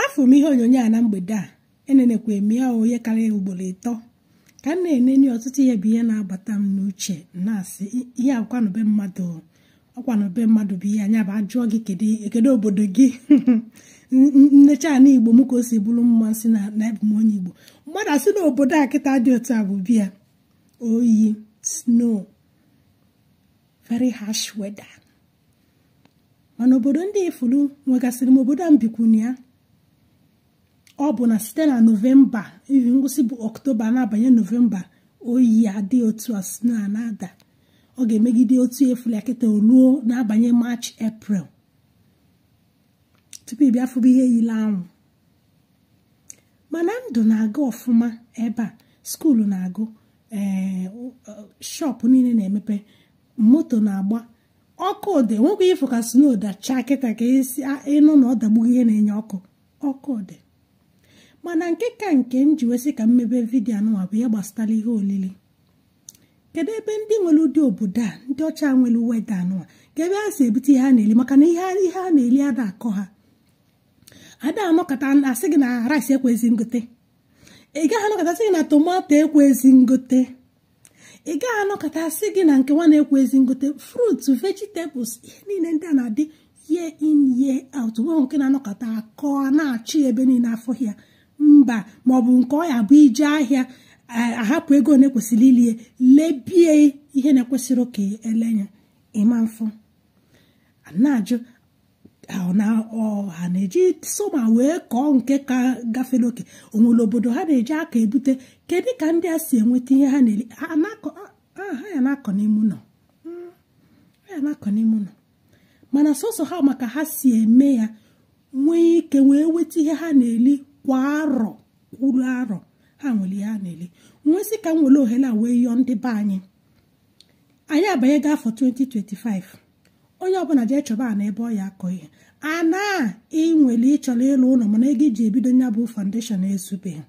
afụ m ihe onyonyo a na mgbede a enenekwa m ya onye karịa ugboro ịtọ ka m na-enene ọtụtụ ihe bụ ihe na-agbata m n'uche na-asị ihe ọkwanụ be mmadụ ọkwanụ be mmadụ bụ ihe a nya bụ ajụọ gị kedu obodo gị m nechaa ana igbo m ka o si bụrụ m ma sị na abụ m onye igbo mmadụ asị na obodo a kịta dị otu a bụ be ya oyi snow very harsh weather mana obodo ndị ị fụlụ nwegasịrị ma obodo a m bikwunu ya ọ bụ na site na novemba even ngwụsị bụ ọktoba na-abanye novemba oyi adị otu a snow a na-ada ọ ga-emegide otu ị fụlụ ya kịta ruo na-abanye maachị eprel tupu ị bịa fụba ihe yile anwụ mana ndụ na-aga ọfụma ebe a skuulu na-agụ ee shọpụ niile na-emepe moto na-agba ọkụ dị nwekwa ị fụ ka snow dachaa kịta ka esi ị nụ na ọ dagbughị ihe na-enye ọkụ ọkụ dị mana nke ka nke m ji wee sị ka m mebe vidio anụnwa bụ ya gbasatara ihe olili kedu ebe ndị nwere ụdị obodo a ndị ọcha nwere weather anụnwa kee ebe ha si ebute ihe ha na-eli maka na ihe ha na-eli ada akọ ha ada anọkata asị gị na rice ekwezi ngote ị gaghị anọkata asị gị na tomato ekwezi ngote ị gaghị anọkata asị gị na nke nwa na ekwezi ngote fruit vegetables ihe niile ndị a na-adị year in year out nwe nke na-anọkata akọ na-achọ ebe niile afụ ya mba maọbụ nke ọ ya bụ ị jee ahịa eh, ahapụ ego na-ekwesịrị ile ya lebe ya ihe na-ekwesịrọ ka e lee nya ịma mfụ na-ajụ na ọ ha na-eji summer wee kọọ nke ka gafere oke onwere obodo ha na-eji aka ebute kedu ka ndị a si enweta ihe ha na-eri ha ya na-akọ n'ime ụlọ hmm, ha ya na-akọ n'ime ụlọ mana sọsọ ha ma ka ha si eme ya nwee ike wee weta ihe ha na-eri kwa arọ kwuru arọ ha nwere ihe ha na-eri m wee sị ka m were ohere a wee yọọ ndị be anyị anyị abanyego afọ 2025 onye ọbụla jee chọba ana ebe ọ ya akọ ihe ana ị nwere ị chọrọ ịlụ ụlọ mana ego ị ji ebido nya bụ foundation ezubeghị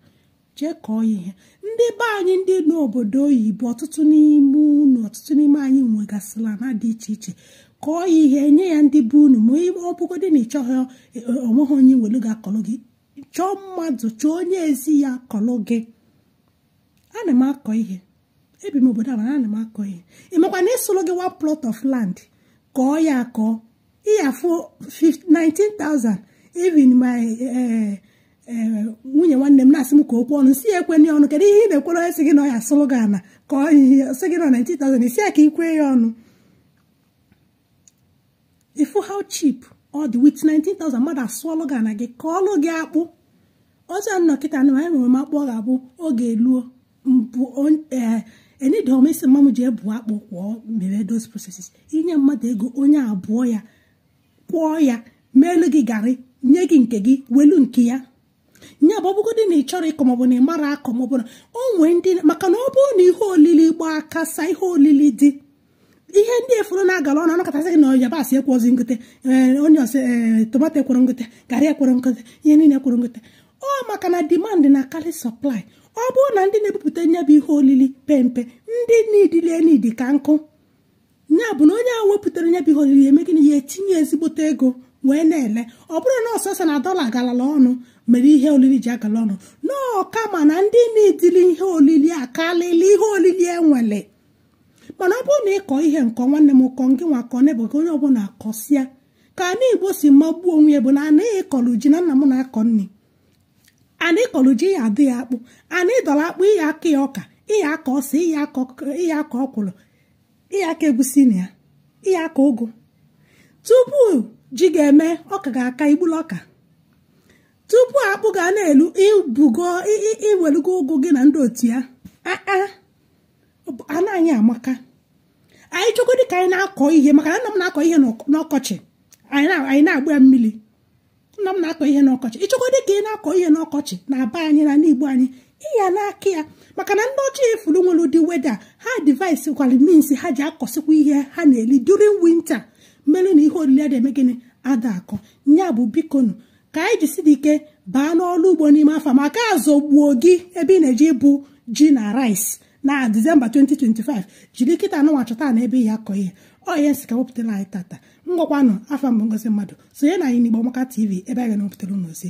jee kọọ ihe ndị be anyị ndị nọ obodo oyibo ọtụtụ n'ime unu ọtụtụ n'ime anyị nwegasịrị ana dị iche iche kọọ ihe enye ya ndị be unu ma ọ bụgodị na ị chọghị onweghị onye ị nwere ga-akọrọ gị chọọ mmadụ chọọ onye ezi ya akọrọ gị ana m akọ ihe ebi m obodo a mana ana m akọ ihe ị makwa na ịsụrụ gị one plot of land kọọ ya akọ ị ya afụ 19,000 even my eh, eh, nwunye nwanne m na-asị m ka o kwe ọnụ m sị ya ekwena ọnụ kedu ihe ị na-ekwere onye sị gị na ọ ya asụrụ gị ana kọọ sị gị na 19,000 ị sị ya ka i kwe ya ọnụ ifu how cheap ọ dị with 19,000 mmadụ asụọlụ gị ana gị kọọlụ gị akpụ ọzọ ị nọ kịta na anyị nwere m akpụ ọ ga-abụ oge eluo m buo enidom eh, isi mma m ji ebu akpụ kwọọ mere those processes i nye mmadụ ego onye a buo ya kwọọ ya meelu gị garị nye gị nke gị welu nke ya nya bụ ọbụgodị na ị chọrọ ịkọ maọbụ na ị mara akọ maọbụ na o nwee ndị maka na ọ bụrụ na ihe olili gbaa kasaa ihe olili dị ihe ndị ị fụrụ na-agala ọnụ a na-akọtasị gị na yabasị ekwozi ngote eh, onye a sị eh, tomato ekwere ngote garị ekwere ngote ihe niile ekwere ngote ọ maka na demand na-akarị supply ọ bụrụ na ndị na-ebupụta nya bụ ihe olili pempe ndị needili ya need ka nnukwu nya bụ na onye ahụ wepụtara nya bụ ihe olili eme gịnị ya etinye ezigbote ego wee na-ele ọ bụrọ na ọ sọsọ na dọla galala ọnụ mere ihe olili ji agala ọnụ ọ kama na ndị needili ihe olili akalịla ihe olili e nwelu mana ọ bụrụ na ị kọọ ihe m kọọ nwanne m kọọ ngịnwa kọọ n'ebe gị onye ọbụla kọsịa ka ana Igbo si magbuo onwe ya bụ na ana ị kọlụ ji na nna m na-akọ nri ana ị kọlụ ji ị ya-adọ ya akpụ ana ị dọrọ akpụ ị ya-akọ ya ọka ị ya-akọ ose ị ya-akọ ọkwụrụ ị ya-akọ egusi na ya ị ya-akọ ụgụ tupu ji ga-eme ọka ga-aka i gbulu ọka tupu akpụ ga na-elu i bugo i welugo ụgụ gị na ndị otu ya ana anyị amaka anyị chọgodị ka anyị na-akọ ihe maka na nna m na-akọ ihe n'ọkọchị anyị na-agba ya mmili nna m na-akọ ihe n'ọkọchị ị chọgodị ka ị na-akọ ihe n'ọkọchị na be anyị n'ana Igbo anyị ị ya na-akọ ya maka na ndị ọcha ị fụrụ nwere ụdị weather ha devise kwara means ha ji akọsịkwa ihe ha na-eli during winter melu na ihe olili ada eme gịnị ada akọ nya bụ bikonu ka anyị jisili ike baa n'ọrụ ugbo n'ime afọ maka a zọgbuo gị ebe ị na-eje ibu ji na rice na December 2025 jiri kịta anụnwa chọta ana ebe ị ya-akọ ihe ọ ihe m sị ka m wepụtara anyị tata ngwakwanụ afa m bụ Ngozi Mmadụ sonye na anyị n'Igbo Amaka TV ebe a ga na-ewepụtara unu ozi